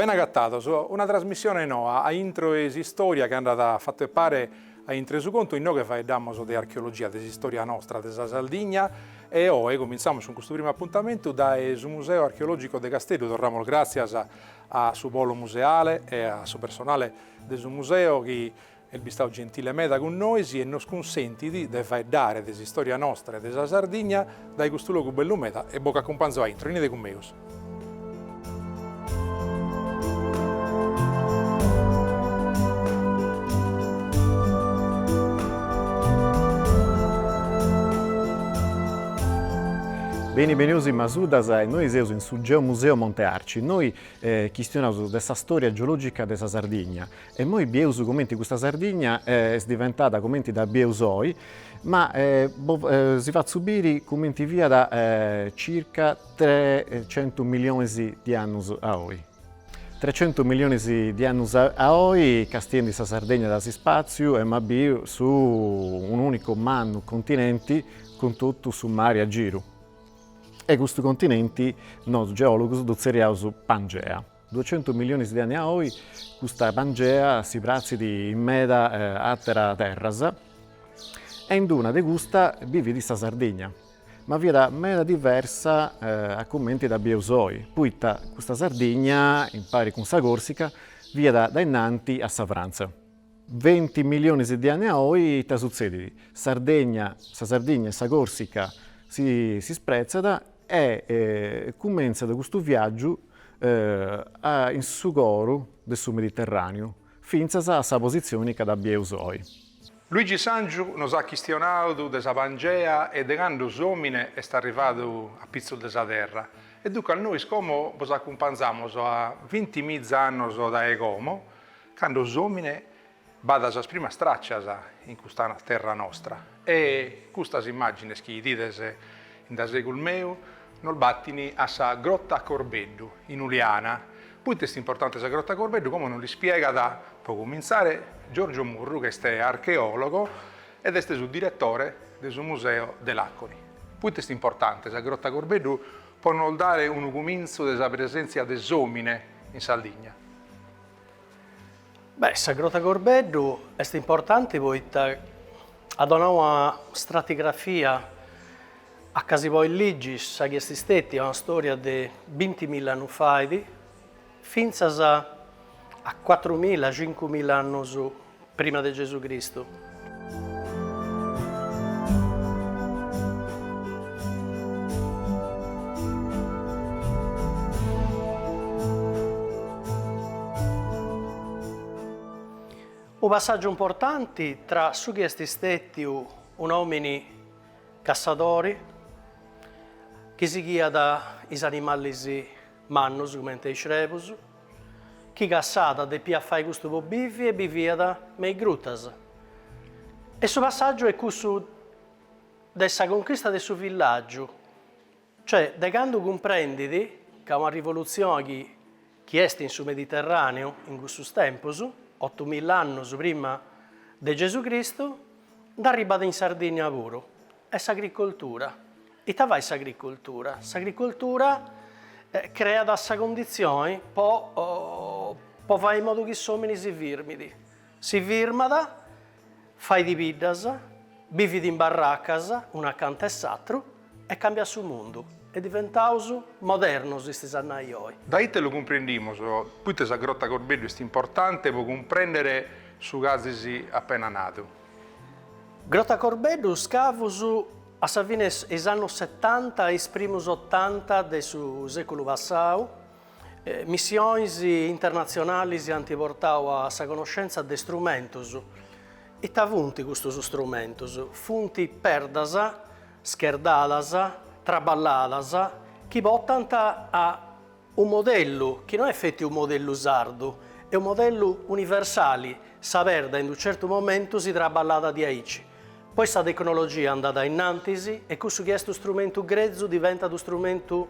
Ben agatados, una trasmissione noa a intro 'e s'istòria chi andat fatu 'e pare a intro su contu inoghe faeddamos de archeologia de s'istòria nostra, de sa Sardigna e oe cumintzamus cun custu primu apuntamentu dae su Museu Archeològico de Casteddu, torramos gràtzias a su polo museale e a su personale de su museu chi est bistadu gentile meda cun nois e nos cunsentit de faeddare de s'istòria nostra e de sa Sardigna dae custu logu bellu meda e bos acumpanzo a intro, 'enide cun megus. Beni benius in Masuddas e nois seus in su Geomuseu Monte Arci innoi chistionaus de sa stòria geològica de sa Sardigna e imoi bieus cumenti custa Sardigna est diventada cumenti dda bieus oi, ma si fatzu biri cumenti fiat circa trecentus milionis de annus a oi. Trecentus milionis de annus a oi, castiendi sa Sardegna dae s'ispàtziu, emus a biri un'ùnicu mannu continenti cun totu su mari a giru. E custu continenti nosu geòlogus ddu tzerriaus Pangea. Duecentus milionis de anni a oi custa Pangea si pratzit in meda àtera terras e in una de custas ddui fiat sa Sardigna, ma fiat meda diversa a cumenti dda bieus oi, poita custa Sardigna, impari cun sa Corsica, fiat dae innanti a sa Frantza. Venti milionis de anni a oi ita sutzedit? Sardegna, sa Sardigna e sa Corsica si spretzat e cumentzat custu viàgiu in su coru de su Mediterràniu fintzas a sa positzioni ca dda bieus oi. Luigi Sangiu nos at chistionadu de sa Pangea e de candu s'òmine est arrivadu a pitzus de sa terra e duncas nois como bos acumpanzamus a vinti miza annos dae como Cando s'omine b'at sas primas traccias in custa terra nostra e custas immagines chi idides in da segus meu nos battin a sa Grotta Corbeddu in Uliana. Poita est importante sa Grotta Corbeddu como nos l'ispiegat pro comintzare Giorgio Murru chi est archeologo ed est su direttore de su Museo de Laconi. Proite est importante sa Grotta Corbeddu pro nos dare unu cumintzu de sa presentzia de s'omine in Sardigna? Beh, sa Grota Corbeddu est importanti poita at donau una stratigrafia anca si podit ligi sa chi est stètia una stòria de bintimilla annus fait fintzas a cuatrumilla, cincumilla annus Prima de Gesù Cristu. Unu passàgiu importanti tra su chi est stètiu un'òmini cassadori chi sighiat is animalis Mannus comente is crebus. Chi cassàt depiat fai custu po bivi e biviat me is grutas. E su passàgiu est cussu de sa conchista de su villàgiu, cioè de candu cumprendit ca una rivolutzione chi chi est in su Mediterraneu in cussus tempus, otumilla annus prima de Gesù Cristu, nd'arribat in Sardìnnia puru. Est s'agricoltura. Ita fait s'agricoltura? S'agricoltura creat sa cundizioni po po fai in modu chi s'omini si firmidi, si firmat, faidi biddas, bividi in barracas unu acanta 'e s'atru e cambiat su mundu e diventaus modernus istis a nai oi. Da ite lu cumprendimus? Proite sa Grotta Corbeddu est importante pro cumprendere su chi azis appena nadu? Grota Corbeddu scavus a sa fine 'e is annus setanta e is primus otanta de su sèculu passau, missionis internatzionalis ant portau a sa conoscentza de strumentus. Ita funt custus strumentus? Funt perdas scherdadas, traballadas, chi portant a. Unu modellu chi no est feti unu modellu sardu, est unu modellu universali, sa perda in unu certu momentu si traballat diaici, poi sa tecnologia andat a innantis e cussu chi est unu strumentu grezu diventat unu strumentu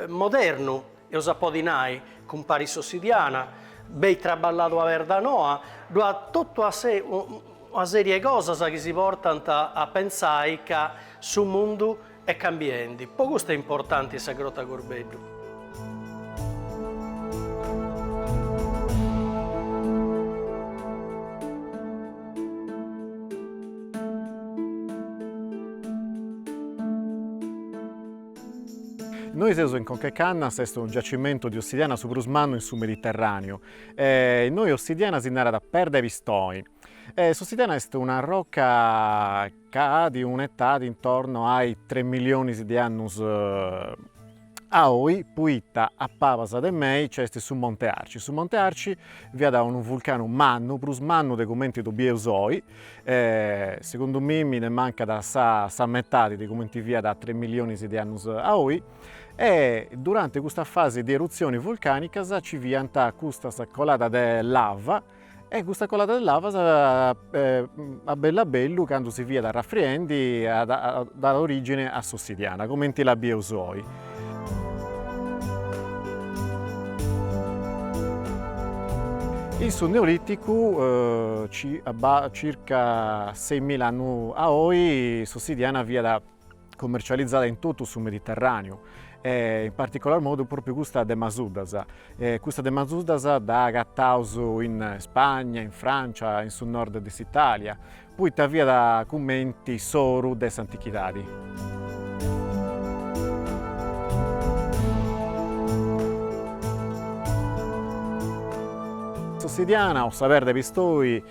modernu, eus a podi nai, cumparit s'ossidiana, benit traballada una perda noa, ddu at totu a se una serie 'e cosas chi si portant a pentzai ca su mundu Est cambiendi. Po custu est importanti sa Grotta Corbeddu. Innoi seus in Conca 'e Cannas, est unu giacimentu de ossidiana su prus mannu in su Mediterraneu. Innoi ossidiana si narat perda 'e pistoni. S'ossidiana est una roca. chi at un'etadi intorno a tres millionis de annus a oi, poita a pabas de mei nc'est su Monte Arci. Su Monte Arci fiat unu vulcanu mannu, prus mannu de cumenti ddu bieus oi, segundu mei mi nde mancat sa metadi de cumenti fiat tres millionis de annus a oi e durante custa fasi de erutzioni vulcanicas nci fiant custas coladas de lava E custa colada de lava a bellu a bellu candu si fiat arrafriendi at dadu origine a s'ossidiana comenti dda bieus oi. In su neoliticu circa seimila annus a oi s'ossidiana fiat cummercializada in totu su Mediterraneu e in particolar modu propriu custa de Masuddas. Custa de Masuddas dda agataus in Spagna, in Francia, in su nord de s'Italia, poita fiat cumenti s'oru de s'antichidadi. S'ossidiana o sa perda 'e pistoi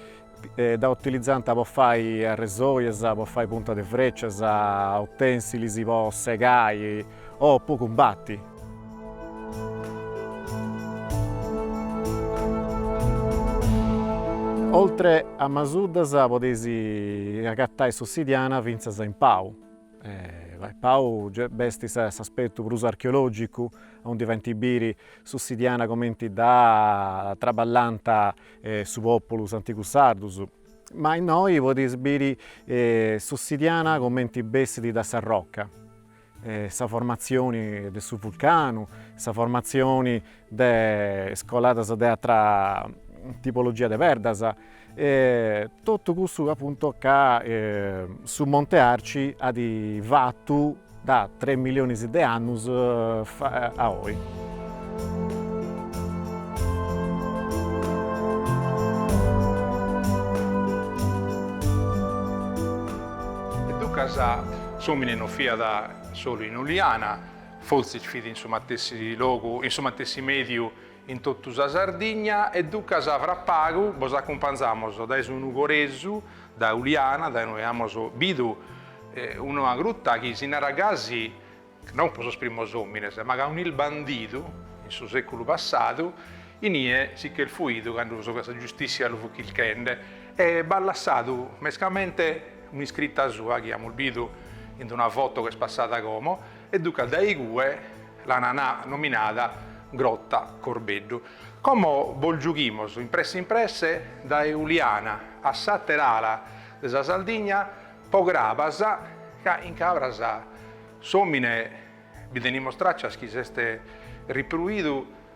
Dda utilizànt po fai arresojas, po fai puntas de frècias, utènsilis po segai o po cumbati. Oltre a Masuddas podeis agatai s'ossidiana fintzas in Pau, Pau est s'aspetu prus archeològicu, aundi faint biri s'ossidiana cumenti dda traballànt is populus antigus sardus ma innoi podeis biri s'ossidiana comenti bessit da sa rocca sa formatzioni de su vulcanu sa formatzioni de is coladas de atra tipologia de perdas totu cussu appunto chi su Monte Arci at fatu Da tres milionis de annus a oi. E duncas s'omine no fiat solu in Uliana, fortzis fit in su matessi logu, in su matessi mediu in totu sa Sardigna e duncas fra pagu bos acumpanzamos dae su Nugoresu, dae Uliana, dae ue amos bidu una gruta chi si narat gasi, non po sos primos omines, ma ca unu bandidu in su seculu passadu, inie si ch'est fuidu candu sa giustissia lu fut chirchende e b'at lassadu mescamente un'iscrita sua chi amos bidu in d'una foto ch'est passada como, e duncas dae igue l'an nanca nominada Grotta Corbeddu. Como bos giughimus impresse impresse dae Uliana a s'attera ala de sa Sardigna po Crabas ca in Cabras s'omine bi tenimus traccias chi s'est ripruidu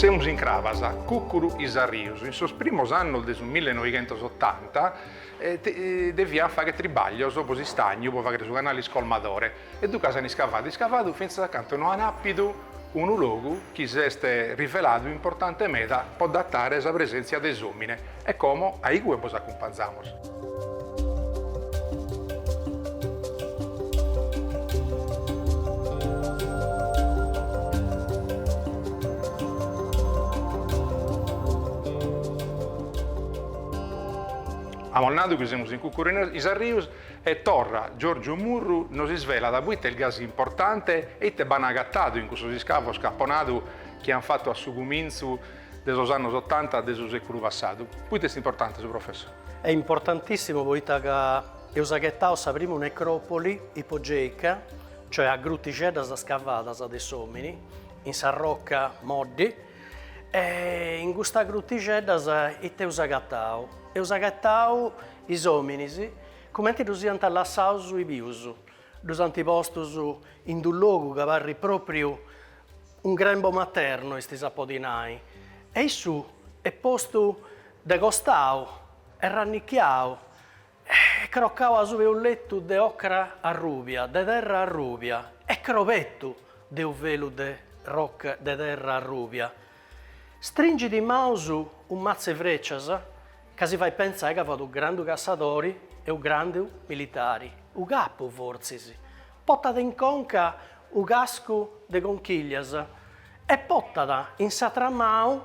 Semus in Crabas, Cucuru is Arrius, in sos primos annos de su millenoighentosottanta, deviant fagher tribaglios po s'istagnu, po fagher su canale iscolmadore. e duncas an iscavadu iscavadu fintzas a cantu no an àpidu unu logu chi s'est riveladu importante meda po datare sa presèntzia de s'òmine e como a igue bos acumpanzamos. Amus nadu chi semus in Cucuru is Arrius E torra, Giorgiu Murru nos isvelat poita est gasi importante e ite b'an agatadu in cussos iscavos c'apo nadu chi an fatu a su cumintzu de sos annos otanta de su sèculu passadu. Poita est importante su professor? Est importantissimu poita ca eus aghetau sa primu necròpoli ipogèica, cioè a grutixeddas scavadas de s'òmini in sa roca moddi e in custas grutixeddas ite eus agatadu? Eus agatadu Is òminis, cumenti ddus iant lassaus is bius, ddus ant postus in d'unu logu ca parrit pròpriu un grembo maternu, est a si podi nai, e issu est postu de costau, est rannichiau e crocau asubu 'e unu letu de ocra arrùbia, de terra arrùbia, e crobetu de unu velu de terra arrùbia. Stringit in maus unu matzu 'e frècias ca si fait pentzai ca fut unu grandu cassadori e unu grandu militari, unu capu fortzis, potat in conca unu cascu de conchìllias e potat in s'atra manu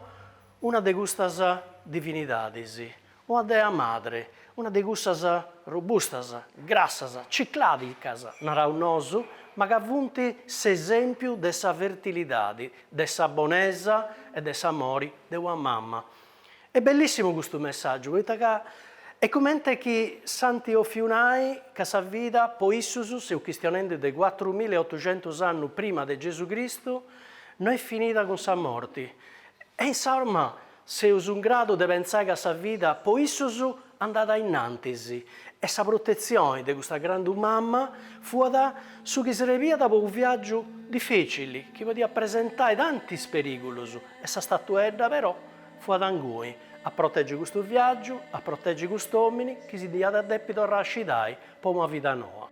una de custas divinidadis, Una dea madre, una de cussas robustas, grassas, ciclàdicas, naraus nosu, ma ca funt s'esèmpiu de sa fertilidadi, de sa bonesa e de s'amori de una mama. Est bellìssimu custu messàgiu, poita ca est cumenti chi s'ant òfiu nai ca sa vida po issus, seu chistionendi de cuatru mila e otuxentus annu prima de Gesù Cristu, no est finida cun sa morti. E insoma! Seus in gradu de pentzai ca sa vida po issus andat innantis e sa protetzioni de custa grandu mama fuat su chi srebiat po unu viàgiu difècili chi podiat presentai tantis perìgulus e sa statuedda però fuat inguni a protègi custu viàgiu, a protègi cust'òmini chi si diat depi torrai a scidai po una vida noa.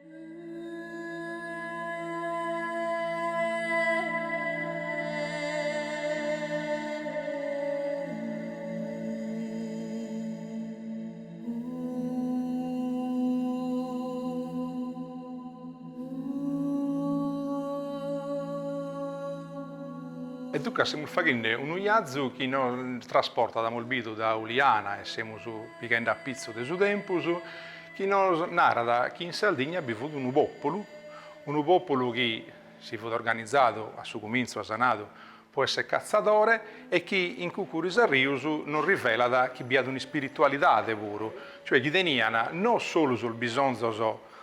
E duncas semus faghende unu iazu chi nos trasportat, amus bidu, dae Uliana e semus pighende a pitzu de su tempus, chi nos narat chi in Sardigna bi fut unu pòpulu, unu pòpulu chi si fut organizadu a su cumintzu at sanadu po esser catzadore e chi in Cucuris Arrius nos rivelat chi bi at un'ispiritualidade puru, cioè chi teniant no solu sos bisonzos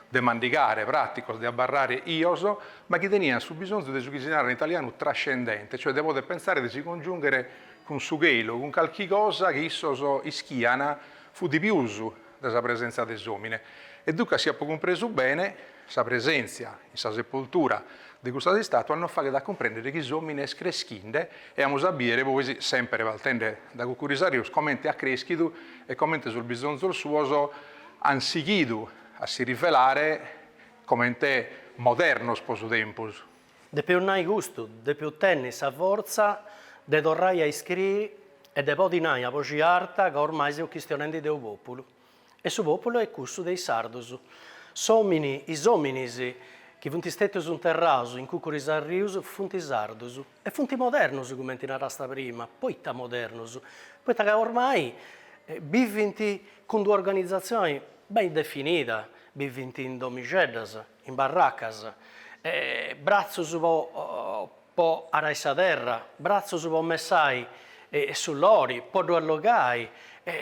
de mandigare, pràticos, de abarrare bios, ma chi teniant su bisonzu de su chi si narat in italianu trascendente, cioè de poder pensare de si congiùnghere cun su chelu, cun calchi cosa chi issos ischiant fut de pius. de sa presèntzia de s'òmine, e duncas si apo cumpresu bene, sa presèntzia in sa sepoltura de custas istàtuas nos faghet a cumprèndere chi s'òmine est creschinde e amus a bìdere poi, semper partende dae Cucuris Arrius, comente at crèschidu e comente sos bisonzos suos ant sighidu a si rivelare comente modernos pro su tempus. Depeus nai custu, depeus tenni sa fortza de torrai a iscriri e de podi nai a boxi arta ca ormai seus chistionendi de unu populu. E su populu est cussu de is sardus. S'omini, is ominis chi funt stetius interraus in Cucuru is Arrius funt sardus. E funt modernus cumenti narasta prima, poita modernus? Poita ca ormai bivint cun d'una organizatzioni beni definida, bivint in domixeddas, in barracas, bratzus po arai sa terra, bratzus po messai su lori, po ddu allogai,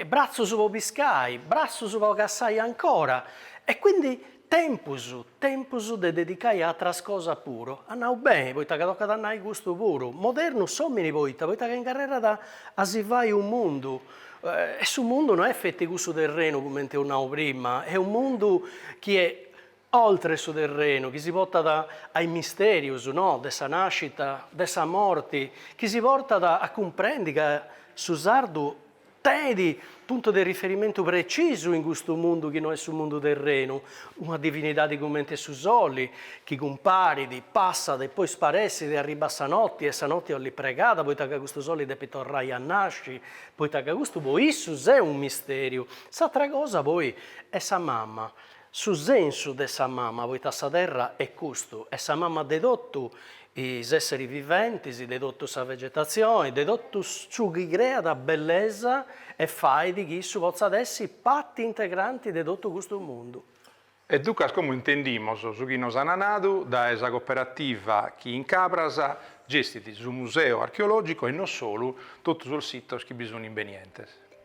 bratzus po piscai, bratzus po cassai ancora, e quindi tempus, tempus de dedicai a atras cosas puru, as nau beni, poita ca tocat a nai custu puru, modernu s'omini poita, poita ca ingarrerat a si fai unu mundu, e su mundu no est feti cussu terrenu cumenti eus nau prima, est unu mundu chi est oltre su terrenu chi si portat a is mistèrius no de sa nàscita, de sa morti, chi si portat a cumprendi ca su sardu tenit puntus de riferimentu precisus in custu mundu chi no est su mundu terrenu, una divinidadi cumenti est su soli, chi cumparit, passat e poi sparessit e arribbat sa noti e sa noti 'olit pregada poita ca custu soli depit torrai a nasci, poita ca custu po issus est u' mistèriu. S'atra cosa poi est sa mama, Su sensu de sa mama, poita sa terra est custu, est sa mama de totu is esseris viventis, de totu sa vegetatzioni, de totu su chi creat bellesa e fait chi issu potzat essi parti integranti de totu custu mundu. E duncas como intendimus su chi nos ana nadu dae sa cooperativa chi in Cabras gestit su museu archeologico e no solu totu sos sitos chi bi sun in is benientes?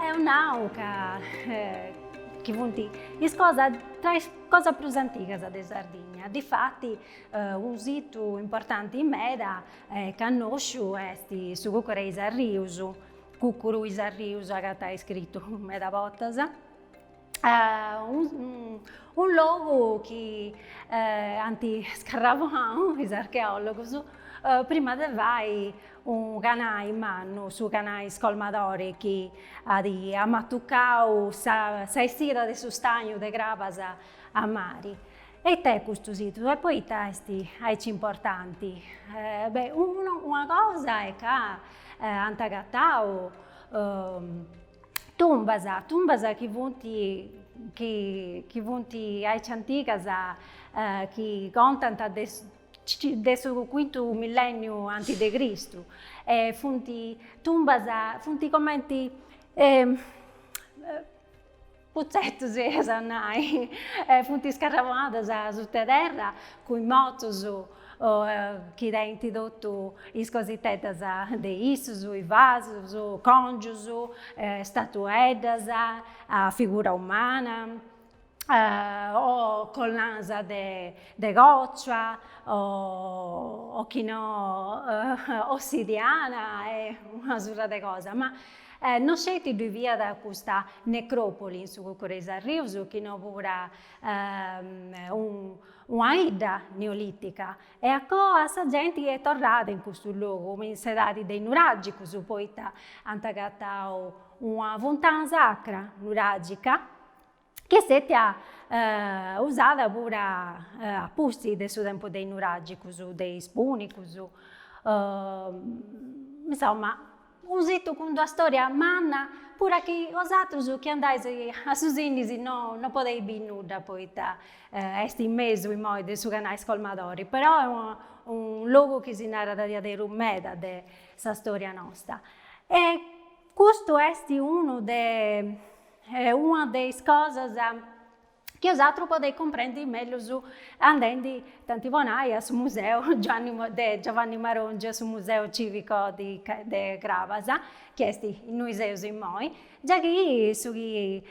Eus nau ca funt is cosas, tra is cosas prus antigas de Sardigna. Difati unu situ importanti meda e cannosciu est su Cucuru 'e is Arrius, Cucuru is Arrius agatais scritu meda bortas. unu logu chi ant scarrabonau is archeòlogus prima de fai unu canai mannu, su canai scolmadori chi at amatucau sa essida de su stagnu de crabas a mari. E ite est custu situ? E poita est aici importanti? Beh, una cosa est ca ant agatau Tumbas, tumbas chi funt chi funt aici antigas chi contant de de su cuintu millenniu antis de Cristu e funt tumbas, funt cumenti Putzetus, eus a nai, funt iscarrabonadas sutta terra cun is mortus chi tenint totu is cositeddas de issus, is vasus, còngius, statueddas a figura umana, o collanas de còcia o chi no ossidiana e una surr'e cosa. E no sceti ddu fiat custa necròpoli in su Cucuru 'e is Arrius chi no pura una 'idda neolìtica. E a coa sa genti est torrada in custu logu in s'edadi de is nuràgicus poita ant agatau una funtana sacra nuràgica chi est istètia usada puru a pustis de su tempus de is nuràgicus, de is pùnicus, insoma, unu situ cun d'una stòria manna, puru chi osatrus chi andais a su Sinis no podeis biri nudda poita est in mesu imoi de su canai scolmadori, però est unu unu logu chi si narat diaderus meda de sa stòria nosta. Custu est unu de una de is cosas chi osatrus podeis cumprendi mellus andendi tanti po nai a su museu Giuanni de Giovanni Marongiu a su museu civico de Crabas chi est innui seus immoi già chi su chi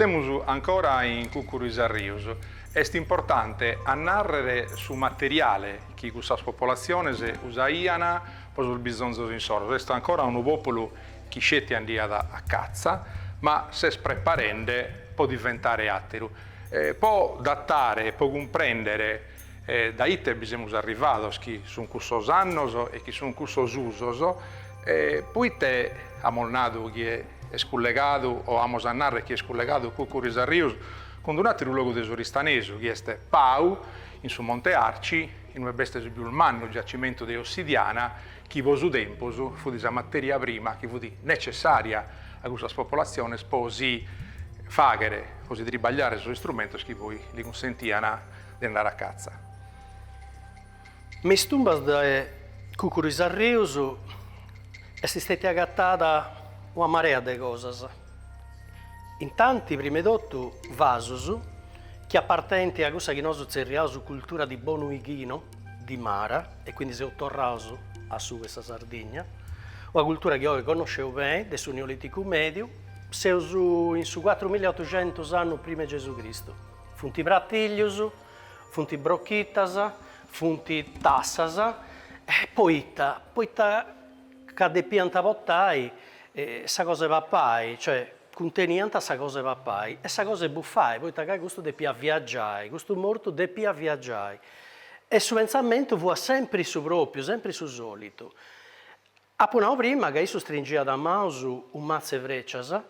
Semus ancora in Cùcuru is Arrius. Est importante a nàrrere su materiale chi cussas popolatziones usaiant po sos bisonzos insoros. Est ancora unu pòpulu Chi sceti andiat a catza, ma s'est preparende po diventare àteru, po datare e po cumprèndere dae ite bi semus arrivados, chi sunt cussos annos e chi sunt cussos usos, poite amus nadu chi est cullegadu o amus a narrer chi est cullegadu Cùcuru is Arrius cun d'un'àteru logu de s'Oristanesu, chi est Pau, in su Monte Arci, in ue b'est su pius mannu giacimentu de ossidiana chi po su tempus fut sa materia prima chi fut necessària a cussas popolatziones po si fàghere, po si tribagliare sos istrumentos chi poi li cunsentian de andare a catza. Me is tumbas de Cùcuru is Arrius est istètia agatada una marea de cosas, intanti prima 'e totu vasus chi apartenint a cussa chi nosu tzerriaus cultura di Bonu Ighinu, di Mara e quindi seus torraus a su de sa Sardigna, una cultura chi oi connosceus beni, de su Neoliticu Mediu, seus in su cuatrumilla e otuxentus annus prima 'e Gesù Cristu. Funt pratillius, funt brochitas, funt tassas e poita, poita ca depiant portai sa cosa 'e papai, cioè cunteniant sa cosa 'e papai e sa cosa 'e buffai, poita ca custu depiat viaggiai, custu mortu depiat viaggiai E su pentzamentu fuat sempri su pròpiu, sempri su sòlitu. Apu nau prima ca issu stringiat a maus unu matzu 'e frècias,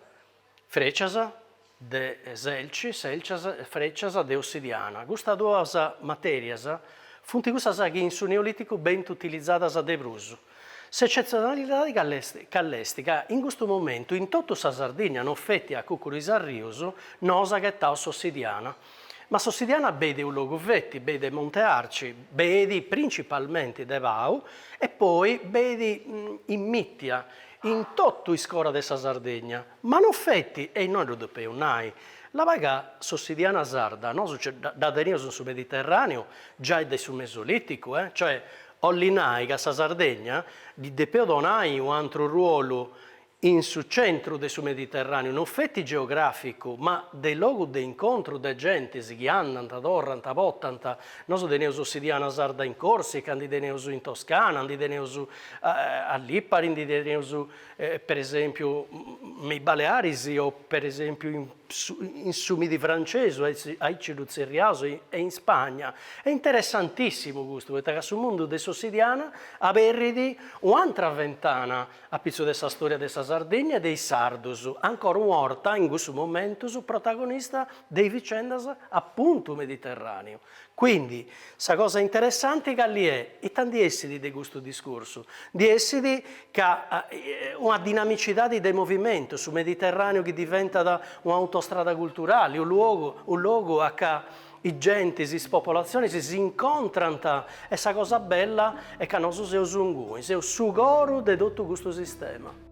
frècias de selci, sèlcias, frècias de ossidiana. Custas duas matèrias funt cussas chi in su Neolìticu benint utilizadas de prus. S'eccezionalidade call'est, ca in custu momentu in totu sa Sardìnnia non feti a Cucuru is Arrius, nosu aghetaus s'Ossidiana. Ma s'Ossidiana beit de u logu feti, beit de Monte Arci, beit principalmenti de Pau e poi beit immìtia, in totu is cora de sa Sardegna, ma non feti, e nosu ddu depeus nai, laba ca s'Ossidiana sarda nosu dda teneus in su Mediterràneu giai de su Mesolìticu, eh, cioè Olli nai ca sa Sardegna ddi depeus donai u antru ruolu in su centru de su Mediterràneu, no feti geogràficu, ma de logu de incontru de gentis chi andant, torrant, potant. Nosu teneus s'ossidiana sarda in Corsica, ndi teneus in Toscana, ndi teneus a Lipari, ndi teneus, per esempiu, me is Balearis o, per esempiu, in. in su Midi Francesu, aici ddu tzerriaus, e in Spagna. Est interessantissimu custu, poita ca su mundu de s'ossidiana aberrit u'antra ventana apitzus de sa storia de sa Sardegna e de is sardus, ancora una 'orta in cussus momentus protagonista de is vicendas apuntu mediterràneu, Quindi, sa cosa interessanti calli est? Ita ndi essit de custu discursu? Ndi essit ca una dinamicidadi de movimentu, su Mediterraneu chi diventat un'autostrada culturali, unu luogu, unu logu a ca is gentis, is popolatzionis s'incontrant e sa cosa bella est ca nosu seus inguni, seus su coru de totu custu sistema.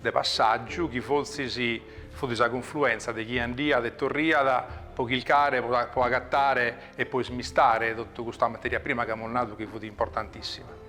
de passàgiu chi fortzis fut sa cunfluentza de chie andiat e torriat pro chircare, po agatare e po ismistare totu custa materia prima chi amus nadu chi fut importantissima.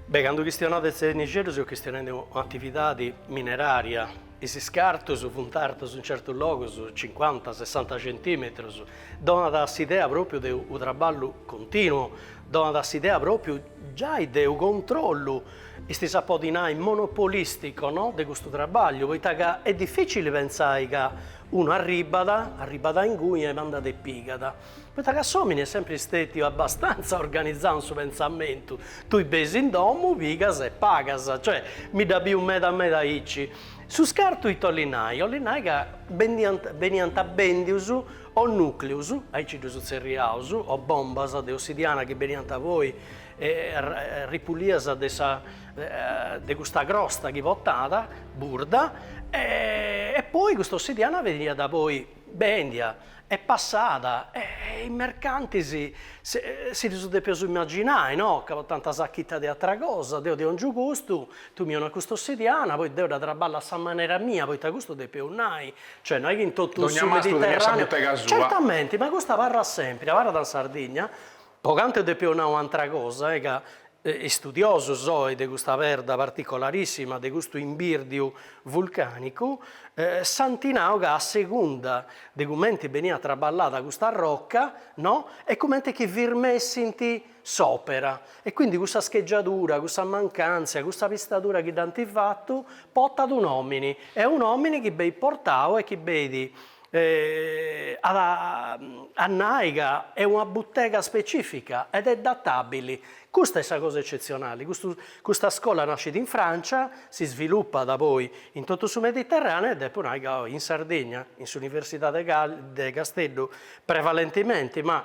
Beh, candu chistionaus de Sennixeddu seus chistionende de un'atividade minerària, is iscartus funt artus in certus logus cincuanta, sessanta centìmetros, donat s'idea pròpiu de unu traballu continuu, donat s'idea pròpiu, Giai de u controllu, estis a podi nai monopolistico no, de custu trabagliu, poita ca est dificili pentzai ca unu arribat, arribat a inguni e bandat e pigat, poita ca s'omini est sempri stetiu abbastantza organizau in su pentzamentu, tui beis in domu, pigas e pagas, cioè mi dda biu meda meda aici. Su scartu ita 'olli nai, 'olli nai ca beniant bendius, o nùcleus aici ddus tzerriaus, o bombas de ossidiana chi beniant poi ripulias de custa crosta chi potat, burda, e poi custa ossidiana beniat poi bèndia e passada, e is mercantis si ddus depeus imaginai, no, ca potànt sachita de atra cosa, deu ti 'òngiu custu, tui mi 'onas custa ossidiana, poi deu dda traballu a sa manera mia, poita custu depeus nai, Cioè no est chi in totu su Mediterraneu. Dogna mastru teniat sa butega sua. Certamenti, ma custa abarrat sempiri, abarrat in Sardigna, po cantu depu nai u' antra cosa, e ca istudiosus oi de custa perda particolarissima de custu imbirdiu vulcanicu, s'anti nau ca a segunda de cumenti beniat traballada custa rocca, no, est cumenti chi firmessinti s'òpera, e quindi cussa scheggiadura, cussa mancàntzia, cussa pistadura chi dd'ant fatu, portat u' nòmini, est u' nòmini chi beit portau e chi beit a nai ca est una butega specifica ed est databili, custa est sa cosa eccetzionali, custu custa scola nascit in Francia, si svilupat poi in totu su Mediterraneu e depu nai ca oi in Sardigna, in s'Universidade de Casteddu prevalentimenti, ma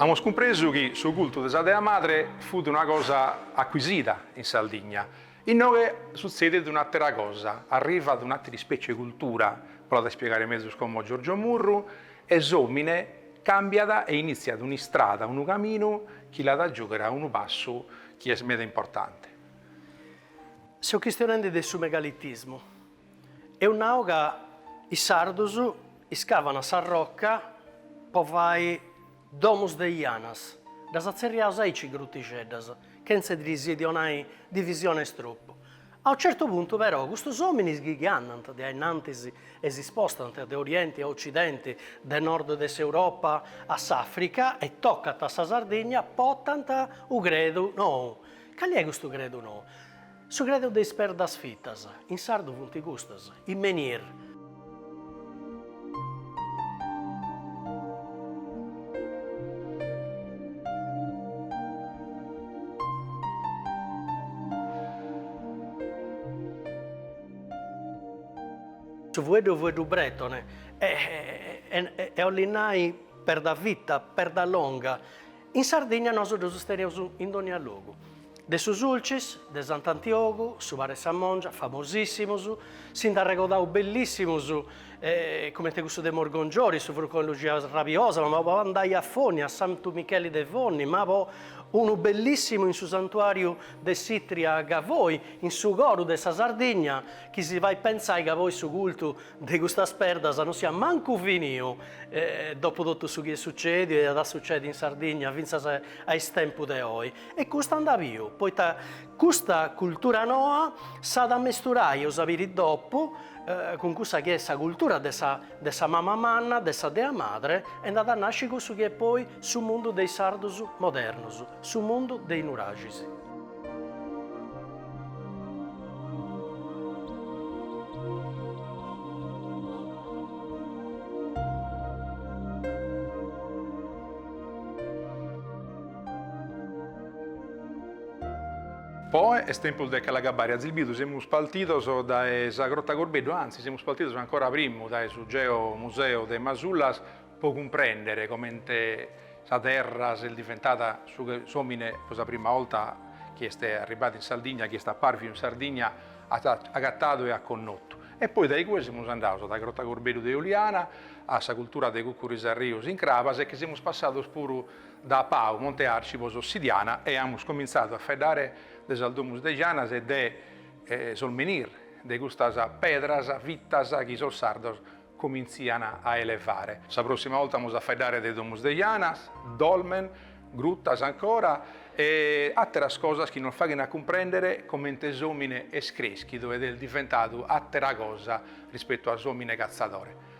Amus cumpresu chi su cultu de sa dea madre fut una cosa acuisida in Sardigna. Inoghe sutzedit un'àtera cosa, arrivat un'àtera ispècie de cultura, poi l'at a ispiegare mezus como Giorgio Murru, e s'òmine càmbiat e inìtziat un'istrada, unu caminu chi l'at a giùghere a unu passu chi est meda importante. Seu chistionende de su megalitismu. Eus nau ca is sardus iscavana s'arroca po fai domus de janas, ddas atzerriaus aici grutixeddas, chentza ddis donai divisionis tropu. A u certu puntu però custus ominis chi chi andant de ainnantis e si spostant de orienti a occidenti, de nord de s'Europa a s'Africa e tocant a sa Sardigna potant u credu nou. Cali est custu credu nou? Su credu de is perdas fitas. In sardu funt custas, is menhir. Su fueddu fueddu bretone, e 'ollit nai perda fita, perda longa. In Sardinnia nosu ddus teneus in dònnia logu. De su Sulcis, de Sant'Antiogu, su Para e sa Mòngia, famosìssimus, si nd'arregodaus bellissimus, comente cussu de Morgongiori, su Frucone de Luxia Rabiosa, ma po andai a Fonni, a Santu Micheli de Fonni, ma poi unu bellissimu in su Santuàriu de s'Itria a Gavoi, in su coru de sa Sardigna, chi si fait pentzai ca poi su cultu de custas perdas no siat mancu finiu, dopu totu su chi est sucèdiu e at a sucèdi in Sardigna fintzas a is tempus de oi. E custa andat biu, poita custa cultura noa s'at a mesturai a s'aberri dopu cun cussa chi est sa cultura de sa de sa mama manna, de sa dea madre e nd'at a nasci cussu chi est poi su mundu de is sardus modernus, su mundu de is nuraxis. Poi est tempus de Calagabaria Zilbidu, semus partidos dae sa Grotta Corbeddu, anzi semus partidos ancora primu dae su geo museu de Masullas po cumprèndere comente sa terra s'est diventada s'òmine pro sa prima 'olta chi est arribbadu in Sardigna, chi est apàrfidu in Sardigna at agatadu e at connotu. E poi dae igue semus andados dae sa Grotta Corbeddu de Oliana, a sa cultura de Cuccuru is Arrius in Crabas e che semus passados puru dae Pau Monte Arci po s'ossidiana e amus comintzadu a faeddare de sas domus de Janas e de sos menir de custas pedras fitas chi sos sardos comintzian a elevare. Sa prossima olta amus a faeddare de domus de Janas, dolmen, gruttas ancora e atteras cosas chi nos faghen a cumprendere comente s'omine est creschidu ed est diventadu attera cosa rispettu a s'omine cazzadore.